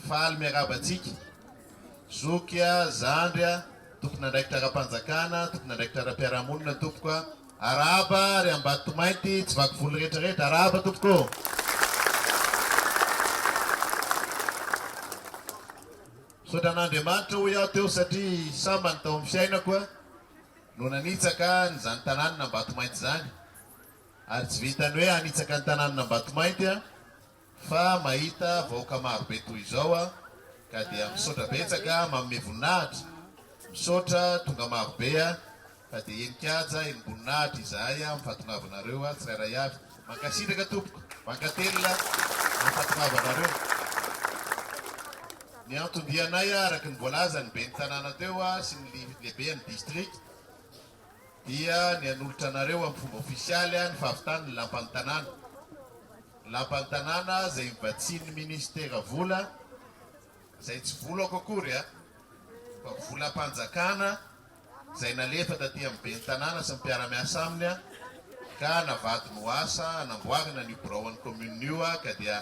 Faly miarahaba antsika, zoky a, zandry a, tompon'andraikitra ara-panjakana, tompon'andraikitra ara-piarahamonina tompoko a, arahaba ry Ambatomainty, tsy vaky volo rehetra rehetra, arahaba tompoko ô. Misaotra an'Andriamanitra hoy aho teo satria sambany tao amin'ny fiainako a. no nanitsaka an'izany tanànan'Ambatomainty izany, ary tsy vitan'ny hoe hanitsaka ny tanànan'Ambatomainty aho fa mahita vahoaka marobe toy izao aho ka dia misaotra betsaka manome voninahitra, misaotra tonga marobe aho fa dia henin-kaja henim-boninahitra izahay amin'ny fahatongavanareo tsirairay avy. Mankasitraka tompoko Mankatelina mahafatrava anareo. Ny anton-dianay araka ny voalazan'ny ben'ny tanàna teo sy ny lehiben'ny district dia ny hanolotra anareo amin'ny fomba ofisialy ny fahavitany ny lampan'ny tanàna. Ny lampan'ny tanàna izay novatsian'ny ministera vola izay tsy volako akory fa volam-panjakana. izay nalefa taty amin'ny ben'ny tanàna sy ny mpiara-miasa aminy ka navadiny ho asa hanamboarana an'io biraon'ny kaominina io ka dia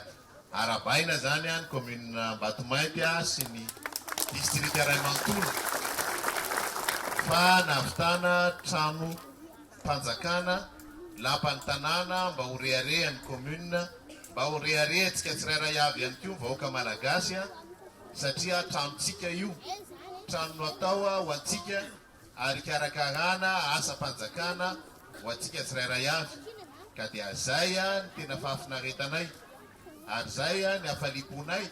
arahabaina izany ny kaominina Ambatomainty sy ny distrika iray manontolo fa nahavitana tranom-panjakana lapan'ny tanàna mba ho reharehan'ny kaominina, mba ho reharehantsika tsirairay avy ihany koa ny vahoaka malagasy. satria tranontsika io, trano natao ho antsika ary hikarakarana asam-panjakana ho antsika tsirairay avy, ka dia zay ny tena fahafinaretanay ary zay ny hafaliam-ponay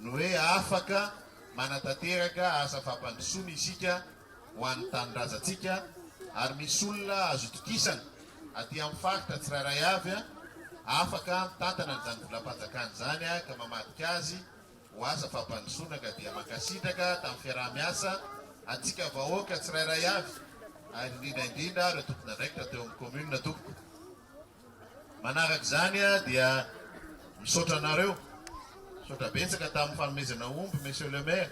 ny hoe afaka manatanteraka asa fampandrosoana isika ho an'ny tanindrazantsika ary misy olona azo itokisana aty amin'ny faritra tsirairay avy afaka mitantana an'izany volam-panjakana izany ka mamadika azy ho azy fampandrosoana ka dia mankasitraka tamin'ny fiaraha-miasa antsika vahoaka tsirairay avy ary indrindra indrindra ireo tompon'andraikitra teo amin'ny commune tompoko. Manaraka izany dia misaotra anareo, misaotra betsaka tamin'ny fanomezana omby monsieur le maire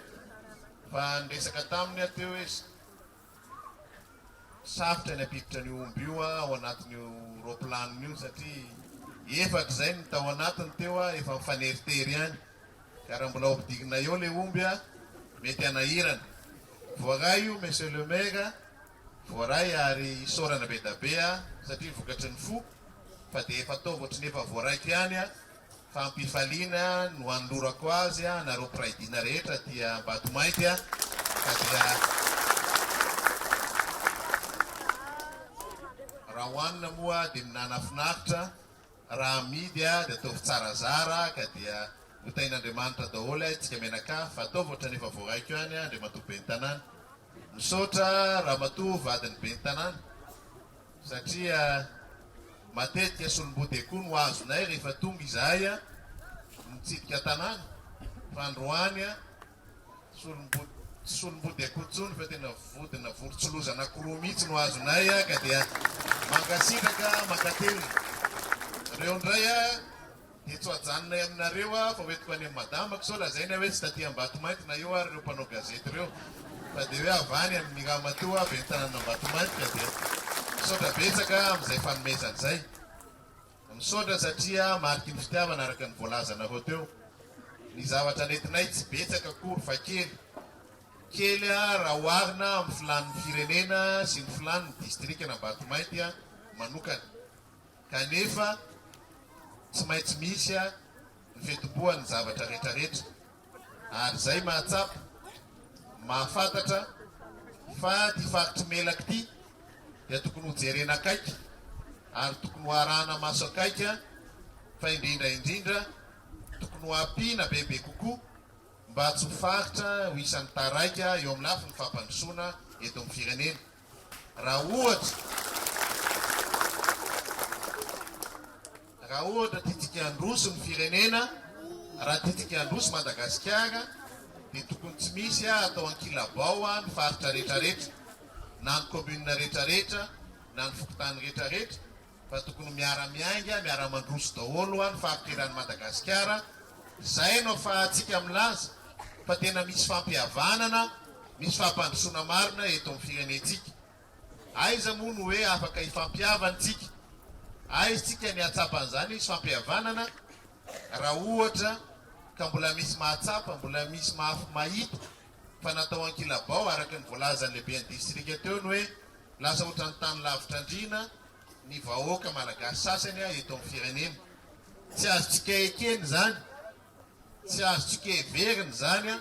fa niresaka taminy aho teo izy. Sarotra ny hampiditra an'io omby io ao anatin'io roaplanony io satria efako izay ny tao anatiny teo efa mifaneritery ihany ka raha mbola hopidigina eo ilay omby mety hanahirana. Voaray io Monsieur le Maire, voaray ary isaorana be da be satria vokatry ny fo fa dia efa ataovy ohatry ny efa voaraiko ihany Fampifaliana no anolorako azy anareo mpiray dina rehetra aty Ambatomainty ka dia raha hohanina moa dia ny nanafinaritra, raha amidy dia ataovy tsara zara ka dia hotahin'Andriamanitra daholo aitsika mianakavy fa ataovy ohatrany efa voaraiko ihany Andriamatoa Ben'ny tanàna. Misaotra Ramatoa vadin'ny Ben'ny tanàna. satria matetika solombode koa no azonay rehefa tonga izahay mitsidika an-tanàna, fa androany solombody tsy solombody akory intsony fa tena vodina vorontsiloza anankiroa mihitsy no azonay ka dia mankasitraka mankatelina. Reo indray Dia tsy ho ajanonay aminareo aho fa hoentiko any amin'i madamako sao lazainy aho hoe tsy taty Ambatomainty na eo ary ireo mpanao gazety ireo fa dia hoe avy any amin'ny ramatoa ben'ny tanàn'Ambatomainty ka dia misaotra betsaka amin'izay fanomezana izay. Misaotra satria mariky ny fitiavana araka ny voalazanareo teo. Ny zavatra nentinay tsy betsaka akory fa kely. Kely raha oharina amin'ny filàn'ny firenena sy ny filàn'ny distrikan'Ambatomainty manokana. Kanefa, tsy maintsy misy ny fitomboan'ny zavatra rehetrarehetra, ary izay mahatsapa, mahafantatra fa ity faritry Melaky ity dia tokony ho jerena akaiky ary tokony ho arahana maso akaiky, fa indrindra indrindra tokony ho ampiana bebe kokoa mba tsy ho faritra ho isan'ny taraiky eo amin'ny lafiny fampandrosoana eto amin'ny firenena. Raha ohatra, raha ohatra tiantsika handroso ny firenena, raha tiantsika handroso Madagasikara, dia tokony tsy misy ah, atao ankilabao ah, ny faritra rehetrarehetra, na ny commune rehetrarehetra, na ny fokontany rehetrarehetra, fa tokony miara miainga miara mandroso daholo an fahanterany Madagasikara zay no afahantsika milaza fa tena misy fampihavanana misy fampandrosoana marina eto am firenentsika aiza moa no hoe afaka hifampihavan tsika aiz tsika ny ahatsapan zany misy fampihavanana raha ohatra ka mbola misy mahatsapa mbola misy mahafmahita fa natao ankilabao araka ny voalazan'ny lehiben'ny distrika teo ny hoe lasa ohatran'ny tany lavitra andriana ny vahoaka malagasy sasany eto amin'ny firenena. Tsy azontsika ekena izany, tsy azontsika heverina izany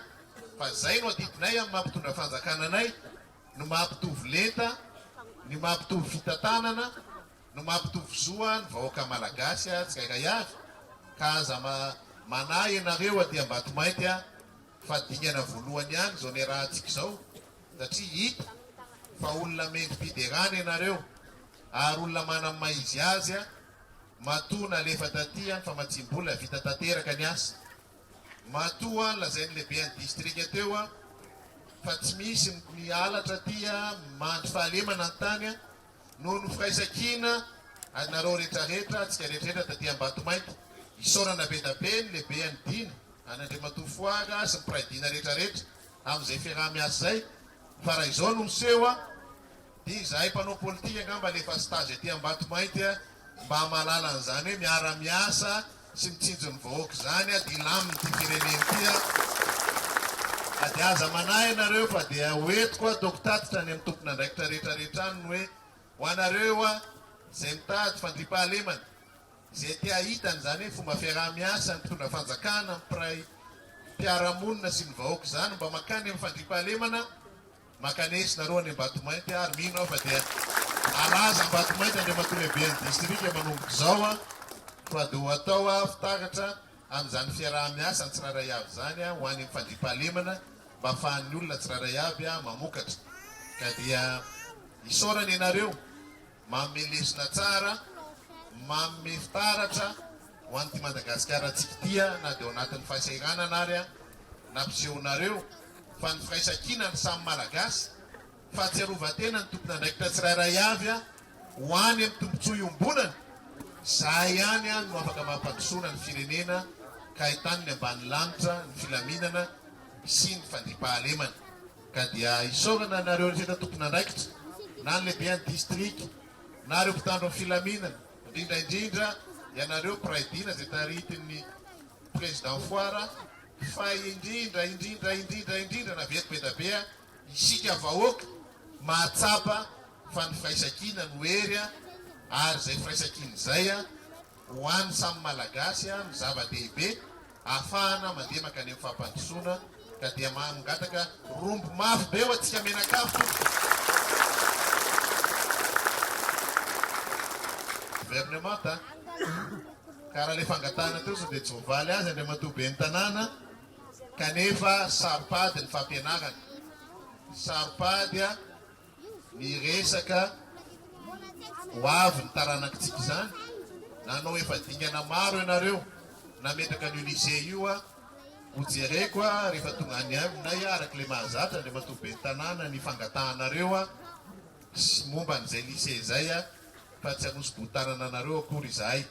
fa izay no adidinay amin'ny maha mpitondra fanjakana anay, ny maha mpitovy lenta, ny maha mpitovy fitantanana, ny maha mpitovy zo ny vahoaka malagasy tsirairay avy ka aza manahy ianareo aty Ambatomainty Fa dingana voalohany ihany izao niarahantsika izao satria hita fa olona mendri-piderana ianareo ary olona manam maiziazy a! Matoa nalefa taty an famatsiam-bola vita tanteraka ny asa. Matoa an lazain'ny lehiben'ny distrika teo an fa tsy misy ny halatra aty an mandry fahalemana ny tany an noho ny firaisan-kina anareo retraretra antsika retraretra taty Ambatomainty. Isaorana be da be ny lehibe an'i Dina. Any Andriamatoa Foaga sy ny mpiray dina rehetra rehetra amin'izay fiaraha-miasa izay fa raha izao no miseho a! dia izahay mpanao politika angamba le efa stage aty Ambatomainty a! mba hamalala an'izany hoe miara-miasa sy mitsinjo ny vahoaka izany a! dia hilamin'ity firenena ity a! ka dia aza manahy ianareo fa dia ho entiko hataoko tatitra any amin'ny tompon'andraikitra rehetra rehetra any ny hoe ho anareo a! izay mitady fandriampahalemana Izay te hahita an'izany hoe fomba fiaraha-miasan'ny mpitondra fanjakana amin'ny mpiray mpiara-monina sy ny vahoaka izany mba mankany amin'ny fandriampahalemana maka ny aici nareo any Ambatomainty ary mino aho fa dia halaza Ambatomainty Andriamatoa Lehiben'ny Distrika manomboka izao fa dia ho atao fitaratra amin'izany fiaraha-miasa ny tsirairay avy izany ho any amin'ny fandriampahalemana mba hafahan'ny olona tsirairay avy mamokatra ka dia isaorana ianareo Manome lesona tsara, manome fitaratra ho an'ity Madagasikara antsika ity aho na dia ao anatin'ny fahasahiranana ary aho nampisehonareo fa ny firaisankina ny samy Malagasy. Fahatsiarovan-tena ny tompon'andraikitra tsirairay avy aho ho any amin'ny tombontsoa iombonana. Izahay ihany aho no afaka mampandrosoana ny firenena ka ahitany ny ambany lanitra ny filaminana sy ny fandriampahalemana. Ka dia isaorana anareo rehetra tompon'andraikitra, na ny lehiben'ny distrika, na ireo mpitandro ny filaminana, indrindra indrindra ianareo mpiray dina izay taritin'ny Président Foara, fa indrindra indrindra indrindra indrindra na veto be da be a, isika vahoaka mahatsapa fa ny firaisankina no hery a, ary izay firaisankina izay a, ho an'ny samy Malagasy a, no zava-dehibe, ahafahana mandeha mankany amin'ny fampandrosoana ka dia maha mangataka rombo mafy be ho antsika mianakavy tompoko. Gouvernement a! Ka raha le fangatahana teo sao dia tsy voavaly azy Andriamatoa Ben'ny Tanàna kanefa saro-pady ny fampianarana, saro-pady a! Ny resaka ho avy ny taranakitsika izany, nanao efa dingana maro ianareo nametraka an'io lycée io a, ho jereko a rehefa tonga any aminay a, araka ilay mahazatra Andriamatoa Ben'ny Tanàna ny fangatahanareo a, sy momba an'izay lycée izay a, fa tsy hanosi-bohotanana anareo akory izahay,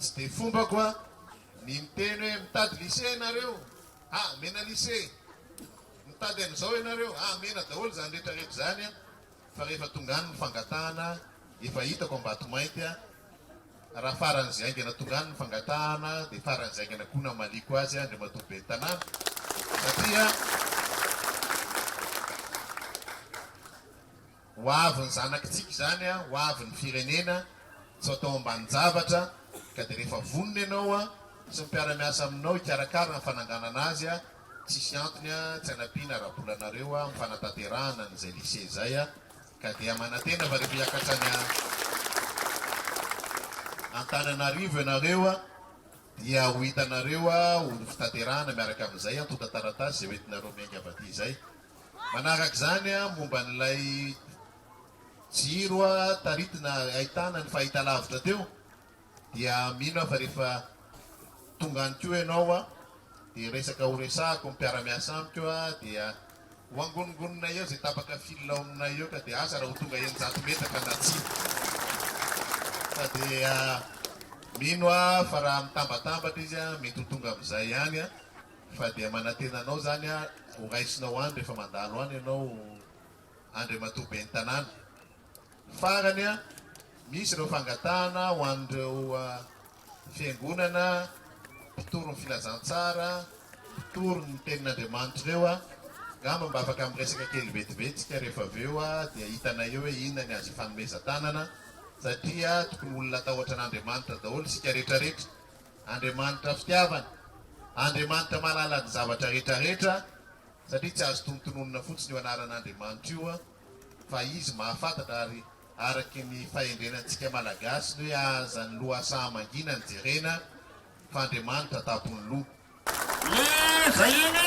tsy dia fombako a, ny miteny hoe mitady lycée ianareo, ah, mena lycée. Mitady an'izao ianareo hahamena daholo izany rehetra rehetra izany fa rehefa tonga any ny fangatahana efa hitako Ambatomainty raha faran'izay haingana tonga any ny fangatahana dia faran'izay haingana koa namaliako azy Andriamatoa Ben'ny Tanàna satria Ho avy ny zanakitsika izany, ho avy ny firenena, tsy atao ambanin-javatra, ka dia rehefa vonona ianao sy ny mpiara-miasa aminao hikarakara ny fananganana azy, tsisy antony tsy hanampiana ara-bola anareo amin'ny fanatanterahana an'izay lycée izay, ka dia manantena fa rehefa hiakatra any Antananarivo ianareo dia ho hitanareo ho fitanterahana miaraka amin'izay antontan-taratasy izay hoentinareo miainga avy aty izay. Manaraka izany, momba an'ilay jiro taritina ahitana ny fahitalavitra teo, dia mino aho fa rehefa tonga any koa ianao dia resaka horesahako ny mpiara-miasa amiko dia ho angonongononay eo izay tapaka fil ao aminay eo ka dia asa raha ho tonga eninjato metaka na tsia. Ka dia mino aho fa raha mitambatambatra izy mety ho tonga amin'izay ihany. Fa dia manantena anao izany aho ho raisinao any rehefa mandalo any ianao Andriamatoa Ben'ny Tanàna. Farany an, misy ireo fangatahana ho an'ireo Fiangonana, mpitory ny filazantsara, mpitory ny tenin'Andriamanitra ireo an, angamba mba afaka miresaka kely vetivety isika rehefa avy eo dia hitanay eo hoe inona ny azo ifanomezan-tanana satria tokony olona hatahotra an'Andriamanitra daholo isika rehetrarehetra. Andriamanitra fitiavana, Andriamanitra mahalala ny zavatra rehetrarehetra, satria tsy azo tonontononina fotsiny io anaran'Andriamanitra io fa Izy mahafantatra ary araky ny fahendrena antsika Malagasy ny hoe aza ny loha saha mangina ny jerena fa Andriamanitra tampon'ny loha. Ny vahiny.